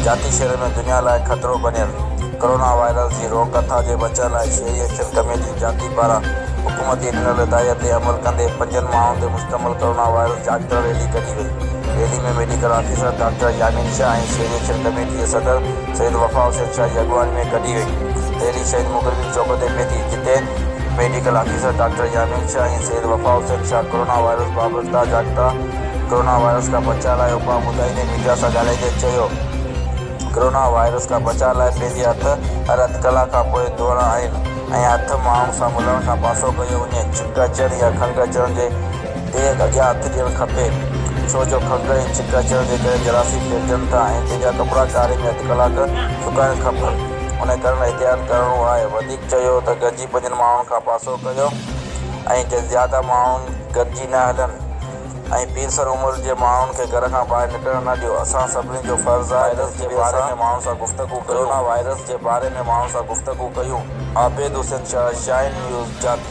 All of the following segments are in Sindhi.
جاتي شهر ۾ دنيا لاء خطرو بنيل ڪورونا وائرس جي روڪ ٿا جي بچڻ لاء شهري ايڪشن ڪميٽي جاتي پاران حڪومت جي ڏنل هدايت تي عمل ڪندي پنجن ماڻهن تي مشتمل ڪورونا وائرس جاچ ڪرڻ ريلي ڪڍي. ٿي. Rally ۾ medical officer doctor Yamin Shah ۽ شهري ايڪشن ڪميٽي جي صدر سيد وفا حسين شاهه جي اڳواڻي ۾ ڪڍي وئي. ريلي شهيد مڪرمي چوڪ تي پهتي، جتي medical officer doctor Yamin Shah ۽ Syed Wafa Hussain Shah corona virus بابت ڪا جاڳتا ڪورونا وائرس کان بچاء لاء اپاء ٻڌائيندي ميڊيا سان ڳالهائيندي چيو ڪورونا وائرس کان بچاء لاء پنهنجي هٿ هر اڌ ڪلاڪ کان پوء ڌوئڻا آهن ۽ هٿ ماڻهن سان ملڻ کان پاسو ڪيو وڃي. ڇنڪ اچڻ يا کنگهه اچڻ جي ديگ اڳيان هٿ ڏيڻ کپي ڇو جو کنگهه ۽ ڇڪ اچڻ جي ڪري جراسي ڦيرجن ٿا ۽ ديڳا ڪپڙا ڪاري ۾ اڌ ڪلاڪ سڪائڻ کپن. انهي ڪرڻ احتياط ڪرڻو آهي. وڌيڪ چيو ته گڏجي پنجن ماڻهن کان پاسو ڪيو ۽ زياده ماڻهو گڏجي نه هلن ۽ پيرسن عمر جي ماڻهن کي گهر کان ٻاهر نڪرڻ نه ڏيو. اسان سڀني جو فرض آهي ته هڪ ٻئي سان ڪورونا وائرس جي باري ۾ ماڻهن سان گفتگو ڪيون. عابد حسين شاهه، شاهين نيوز، جاتي.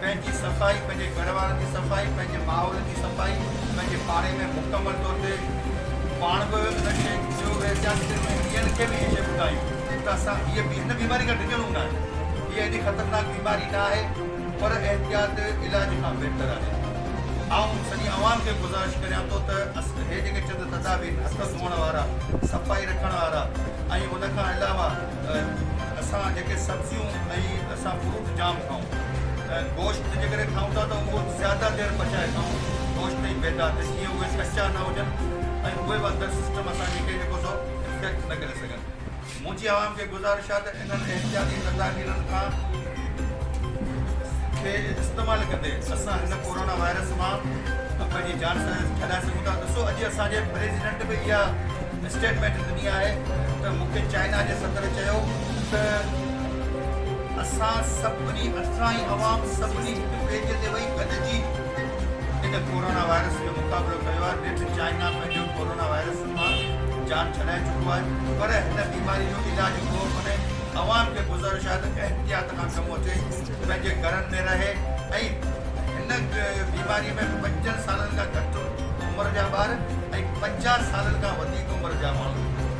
پنهنجي صفائي، پنهنجي گهر وارن جي صفائي، پنهنجي ماحول جي صفائي، پنهنجي پاڙي ۾ مڪمل طور تي پاڻ به ان شيء جو احتياط ڪريون ۽ ٻين کي به اهي شيء ٻڌايون ته اسان هيء هن بيماري کان ڊڄڻو نه آهي. هيء ايڏي خطرناڪ بيماري نه آهي پر احتياط علاج کان بهتر آهي. آئون سڄي عوام کي گذارش ڪريان ٿو ته هي جيڪي چند تدابير، هٿ ڌوئڻ وارا، صفائي رکڻ وارا ۽ ان کان علاوه اسان جيڪي سبزيون ۽ اسان فروٽ جام کائون. گوشت جيڪڏهن کائون ٿا ته اهو زياده دير پچائي کائون گوشت ۽ ميدا ته جيئن اهي ڪچا نه هجن ۽ اهي به اندر سسٽم اسان جي کي جيڪو سو افيڪٽ نه ڪري سگهن منهنجي عوام کي گذارش آهي ته انهن احتياطي تدابيرن کان کي استعمال ڪندي اسان هن ڪورونا وائرس مان پنهنجي جان ڇڏائي سگهون ٿا ڏسو اڄ اسان جي پريزيڊنٽ به اها اسٽيٽمينٽ ڏني آهي ته مون کي چائنا جي صدر چيو ته اسان سڀني اسرائين عوام سڀني هڪ پيج تي وئي گڏجي ان ڪورونا وائرس جو مقابلو ڪيو آهي نيٺ چائنا پنهنجو ڪورونا وائرس مان جان ڇڏائي چڪو آهي پر هن بيماري جو علاج ڪو ڪونهي عوام کي گذارش آهي ته احتياط کان ڪم وٺي پنهنجي گهرن ۾ رهي ۽ هن بيماري ۾ پنجن سالن کان گهٽ عمر جا ٻار ۽ پنجاهه سالن کان وڌيڪ عمر جا ماڻهو